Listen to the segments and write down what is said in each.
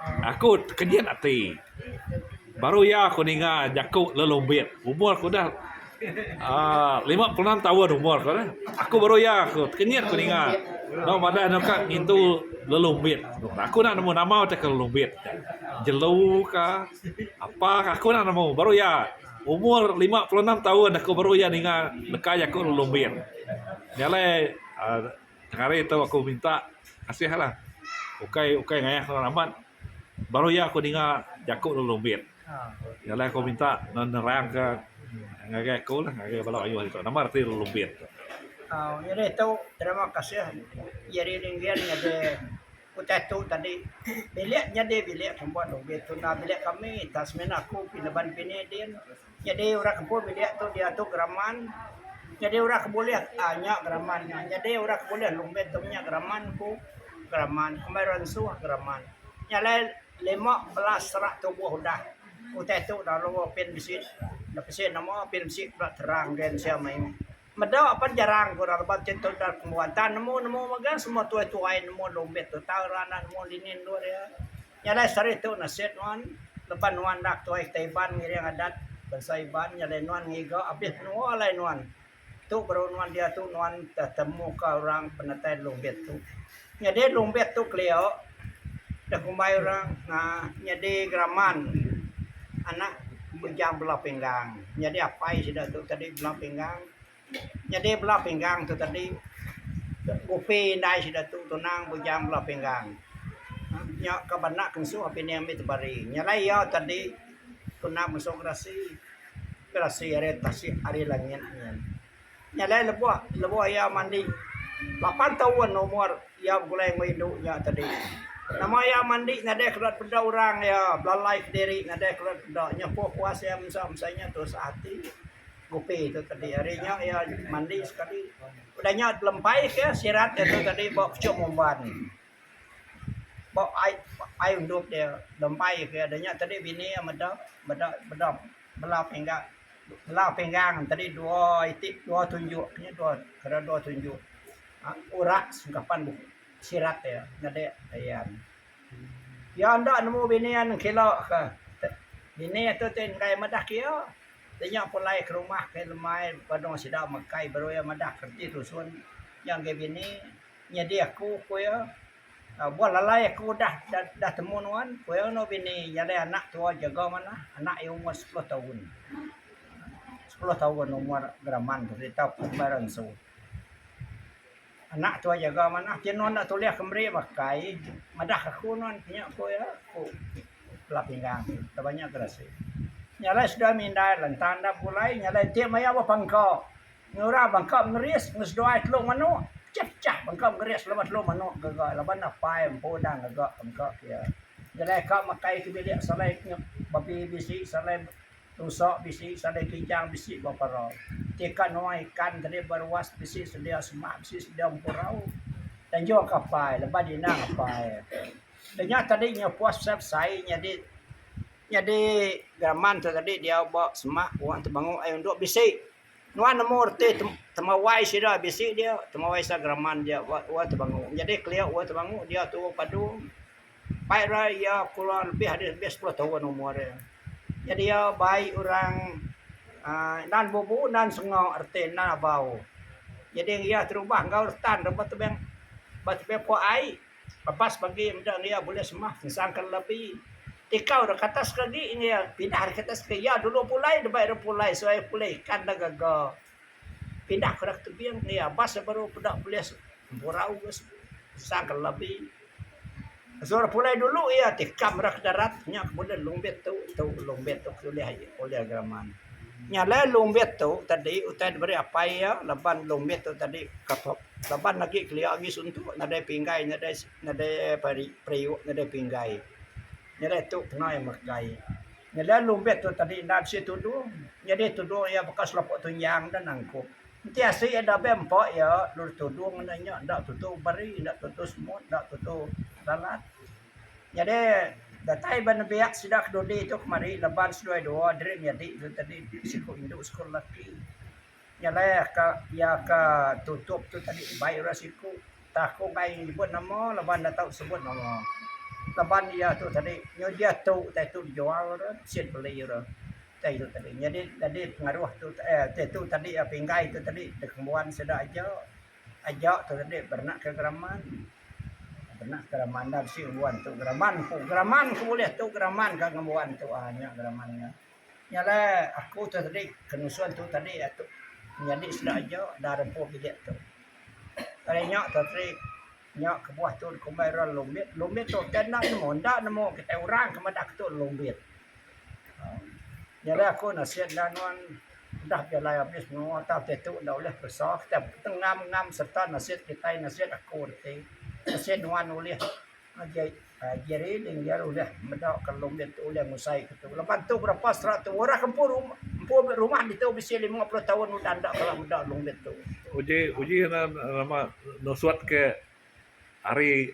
Aku tekejit ati baru iya aku ninga jaku Lun Lumbit umur ku dah aaa lima puluh enam taun umur ku dah. Aku baru iya aku tekejit aku ninga dau madah anu ka ngintu Lun Lumbit. Aku enda nemu nama utai ke Lun Lumbit. Jelu ka apa ka aku enda nemu baru iya umur lima puluh enam taun aku baru iya ninga neka jaku Lun Lumbit. Nya alai aaa. Tengari tu aku minta kasih lah ukai ukai ngayah orang amat baru iya aku ninga jaku orang Rumbit iya lah aku minta nerang ka ngagai aku lah ngagai bala mayuh agi tu nama reti orang Rumbit tu. Um iya deh tu terima kasih Jerry Ringgan ngagai utai tu tadi bilik nyadi bilik kambut Rumbit tuna bilik kami tak semina aku pinaban pini din. Nyadi orang ke pun bilik tu diatu geraman nyadi orang ke bulih aaa nya geraman nya nyadi orang ke bulih lumit tu nya geraman ku geraman amai rensuh geraman nya alai lima belas serak tubuh udah utai tu lalu pin bisi pin bisi nama pin bisi pula terang dia sia mayuh. Meda pan jarang ku rak lebat chai tau dap kembuan tang nemu nemu mega semua tuai tuai nemu lombit tu tau rak enda nemu dini endur iya. Nya alai seri tu nasit nuan leban nuan enda tuai kitai Iban ngiring adat bansa Iban nya alai nuan ngiga abis menua alai nuan. Tu baru nuan diatu nuan te temuka orang penatai lombit tu. Nyadi Lumbit tu kelio da kumbai orang uhh nyadi geraman anak Bujang Belau Pinggang. Nyadi apai sida tu tadi Belau Pinggang. Nyadi Belau Pinggang tu tadi Gupi indai sida tu tunang Bujang Belau Pinggang. Nya ka ba anak kensu Api Ning Ami Tebari. Nyelai iya tadi tunang mesu gerasi, gerasi ari tasik ari langit nyin. Nyalai lebuh lebuh iya mandi lapan taun umur iya begulai enggau indu iya tadi. Nama iya mandi nadai kena peda orang iya belalai kediri nadai kena peda nyau puas puas iya masa masa nya tusah ati ngupi tu tadi ari nya iya mandi sekali peda nya telempai ka sirat iya tu tadi ba puchung Mumban. Ba ai undop dia lembai ke dia nya tadi bini iya meda meda meda bela pinggan bela pinggan tadi dua iti dua tunjuk ke dua kena dua tunjuk um urat sengkapan sirat dia nyadi ayan. Iya enda nemu bini iya ngkilo ke bini iya tu ti enggai meda ke iya. Dia nya pulai ke rumah ke lemai padung sida mekai baru iya meda reti dusun iya ngagai bini. Nyadi aku ku iya buah lalai aku udah udah temu nuan ku iya enggau bini iya deh anak tua jaga manah anak iya umur sepuluh taun sepuluh taun umur geraman tu kerita ku meh ra ngesu anak tua jaga manah ti nuan enda tulih ke meri makai madah aku nuan ke nya ku iya ku bala pinggang enda banya gerasi nya alai sida mindai lantang enda pulai nya alai ti maya ba pangka. Ngera bangka mengeris enggau seduai telu manok pecah-pecah bangka mengeris laban telu manok gaga laban apai empu enda ngaga bangka pia. Nyelai ka matai ti bilik salai nyep babi bisi salai rusa bisi salai kijang bisi ba para. Ti ka nuai ikan tadi ba ruas bisi sedia semak bisi sedia empurau. Tanjung ka apai laban di inang apai. Da nya tadi nya puas pasal besai nyadi nyadi gaman tu tadi diau ba semak wang tebangu ai undu bisi. Nuan nemu reti temawai sida bisi dia, temawai sida geraman dia ba Ua Tebangu. Nyadi kelia Ua Tebangu dia tu Ua Padu. Pai ra iya kurang lebih ari lebih sepuluh taun umur iya. Nyadi iya bai orang aaa nan bubu nan senga reti nan abau. Nyadi iya terubah enggau retan ba tebing ba tebing puak ai. Lepas bagi meda enggau iya bulih semah ensangka lelabi tikau deka atas ke agi enggau iya pindah deka atas ke iya dulu pulai deba ira pulai suai pulai ikan da gaga pindah ke rak tebing enggau iya bas iya baru peda bulih empurau ke ensangka lelabi mesu ira pulai dulu iya tikam rak darat nya ke bulih lumbit tu tu lumbit tu ke ulih aye ulih geraman. Nya alai lumbit tu tadi utai diberi apai iya laban lumbit tu tadi ka Laban agi kelia agi suntu nadai pinggai nadai nadai periuk nadai pinggai nyadi tu pengai meregai nyadi lumbe tu tadi enda bisi tudung nyadi tudung iya baka selapo tunjang enda nangkup enti asik iya dabei empa iya dulu tudung nya enda enda tutu beri enda tutu semut enda tutu lalat nyadi datai ba nembiak sida ke dudi tu kemari laban seduai dua diri nyadi tu tadi siku indu siku lelaki. Nya alai ka iya ka tutup tu tadi bai orang siku tah aku enggai nyebut nama laban enda tau sebut nama. Laban iya tu tadi nyau dia tu utai tu dijual re sien beli re utai tu tadi. Nyadi nyadi pengaruh tu eh utai tu tadi pinggai tu tadi dikenbuan sida aja aja tu tadi berenak ke geraman berenak ke geraman enda bisi ngembuan tu geraman ku geraman ku ulih tu geraman ka ngembuan tu ah nya geraman nya. Nya alai aku tu tadi ke nusun tu tadi atu nyadi sida aja da rempu bilik tu. Ari nya tu tadi nya kebuah tu dikumbai ira lumbit. Lumbit tu utai endang nemu enda nemu kitai orang ke madah ke tu lumbit. Um Nya alai aku nasit enda nuan udah jalai abis menua tau utai tu enda ulih peresa kitai ngam-ngam sereta nasit kitai nasit aku reti nasit nuan ulih. Aji ari ning iya udah meda ka long ditu udah ngusai ka tu leban tu berapa serak tu orang ke empu empu rumah ditu bisi lima puluh taun udah enda kala meda long ditu. Uji uji nya nama nusut ke ari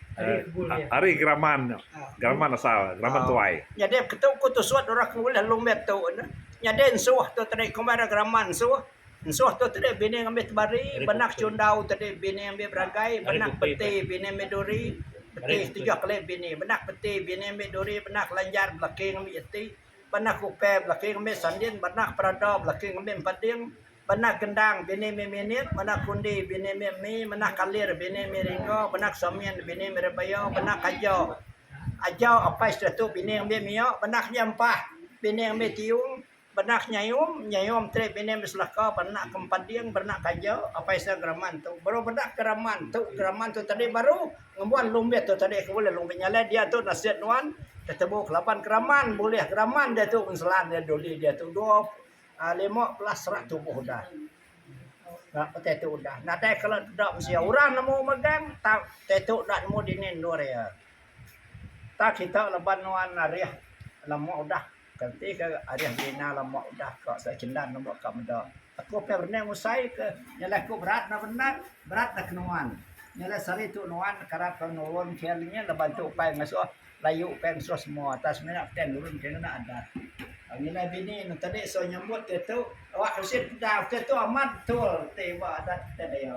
ari geraman nya geraman asal geraman tuai. Nyadi ke tu ku tusut orang ke ulih long ditu ne nyadi ensuh tu tadi kombai ra geraman ensuh. Ensuh tu tadi bini ngambi tebari benak chundau tadi bini ngambi beragai benak peti bini ngambi duri peti tujuh kali bini benak peti bini ngambi duri benak lanjar belaki ngambi jeti benak kupe belaki ngambi sandin benak perada belaki ngambi empading benak gendang bini ngambi minit benak kundi bini ngambi mi benak kalir bini ngambi ringo benak samin bini ngambi rebaya benak aja aja apai sida tu bini ngambi mio benak nya empah bini ngambi tiung. Benak nyayum, nyayum tri bini beselaka berenak ke empat ding berenak ke aja apai sida geraman tu baru bedak ke raman tu geraman tu tadi baru ngembuan lumbit tu tadi ke ulih lumbit nyalai dia tu nasit nuan ketebu ke laban geraman bulih geraman dia tu ngeselan dia duli dia tu dua um lima belas serak tubuh udah na petai tu udah nadai kala deda mensia orang nemu megang tang tai tu dak nemu dini endur ia tak kita leban nuan arih lema udah. Kenti ke arih Rina lama udah ka sida Chendan lama ka meda. Aku pia berenang ngusai ke nya alai aku berat enda bendar berat enda ke nuan. Nya alai sehari tu nuan kerap ke nurun KL nya laban tu ukai ngesuh layu ukai ngesuh semua atas semina pia nurun ke ngena adat. Nya alai bini ne tadi suah nyambut ke tu awak bisi peda ke tu amat betul ti ba adat kita dia.